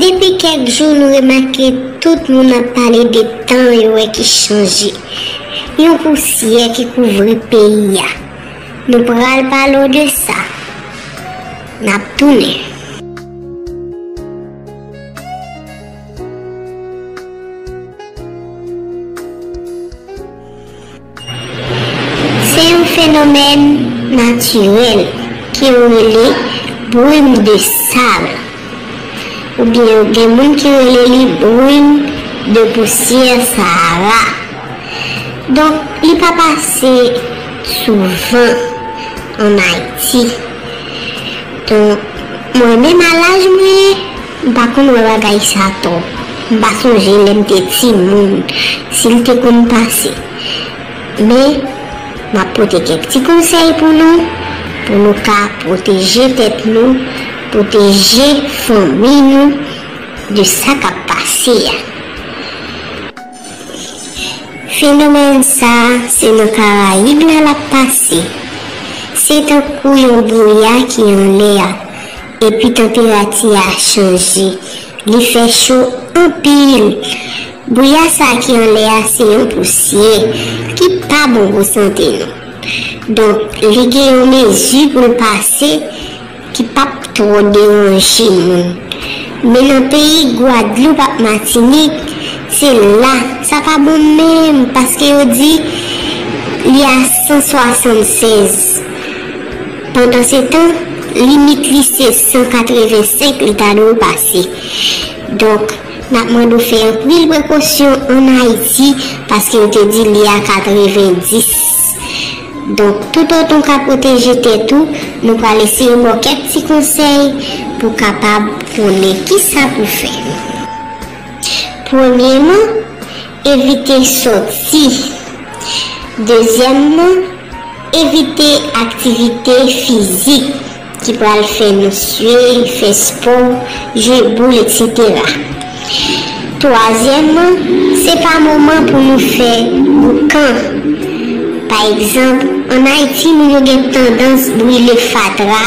Depi kèk jou nou remake tout moun ap pale de tan yo wè ki chanje. Yon pousyè ki kouvri peyi a. Nou pral pale w de sa. N ap tounen. Se yon fenomèn natirèl ke yo rele brim de sal oubyen yo gen moun ki rele li brim de pousyè Sahara. Donk li pa pase souvan an Ayiti. Donk mwen menm a laj mwen. M pa konn wè bagay sa tò. M pa sonje lè m te timoun si l te konn pase. Men, m ap pote kèk ti konsèy pou nou, pou nou ka pwoteje tèt nou, pwoteje fanmi nou de sa k ap pase a. Fenomèn sa a se nan Karayib la l ap pase. Se tankou yon bwouya ki anlè a, epi tanperati a chanje. Li fè cho anpil. Bwouya sa a ki anlè a se yon pousyè ki pa bon pou sante nou. Donk, li gen yon mezi pou l pase ki p ap twò deranje moun. Men nan peyi Gwadloup ak Matinik, se la, sa pa bon menm paske yo di li a 176. Pandansetan, limit li se 185 li ta dwe pase. Donk, n ap mande w fè anpil prekosyon ann Ayiti paske yo te di li a 90. Donk toutotan w ka pwoteje tèt ou, nou pral eseye ba w kèk ti konsèy pou w kapab konnen kisa pou w fè. Premyeman, evite sòti. Dezyèmman, evite aktivite fizik. ki pral fè misye fè spò, jwe boul eksetera. Twazyèmman, se pa moman pou nou fè boukan. Pa egzanp, ann Ayiti moun yo gen tandans brile fatra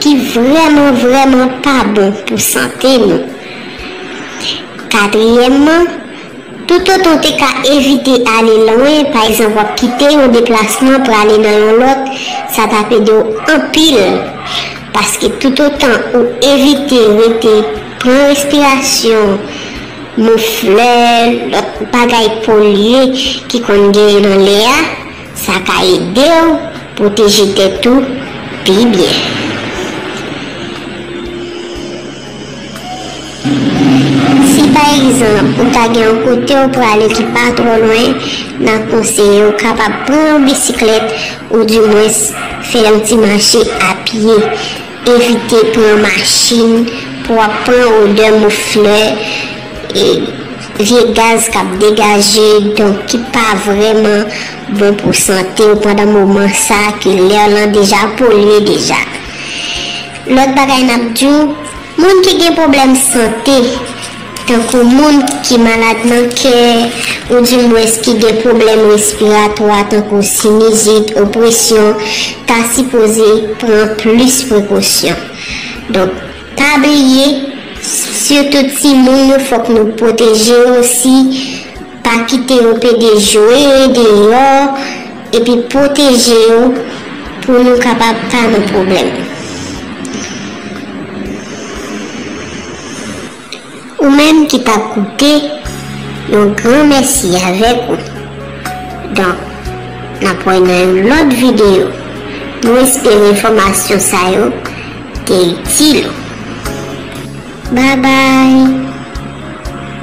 ki vrèman vrèman pa bon pou sante nou. Katriyèmman. Toutotan w te ka evite ale lwen, pa egzanp w ap kite yon deplasman pou ale nan yon lòt, sa t ap ede w anpil. Paske toutotan ou evite rete pran respirasyon, mouflè, lòt bagay polye ki konn genyen nan lè a, sa ka ede w pwoteje tèt ou pi byen. Si pa egzanp ou ta gen yon kote w prale ki pa twò lwen, n ap konseye w kapab pran yon bisiklèt ou di mwens fè yon ti mache a pye. Evite pran machin pou w ap pran odè mouf flè, vye gaz k ap degaje donk ki pa vrèman bon pou sante w pandan moman sa ke lè lan deja polye deja. Lòt bagay n ap di w, moun ki gen pwoblèm sante, tankou moun ki malad nan kè, oudimwens ki gen pwoblèm respiratwa tankou sinizit, opresyon, ta sipoze pran plis prekosyon. Donk, pa bliye, sitou timoun yo fòk nou pwoteje yo si. Pa kite yo pede jwe deyò epi pwoteje yo pou nou kapab pa nan pwoblèm. Ou menm ki pa koute, yon gran mèsi avèk ou. Donk, n ap wè nan yon lòt videyo. Nou espere enfòmasyon sa yo te itil ou. Babay!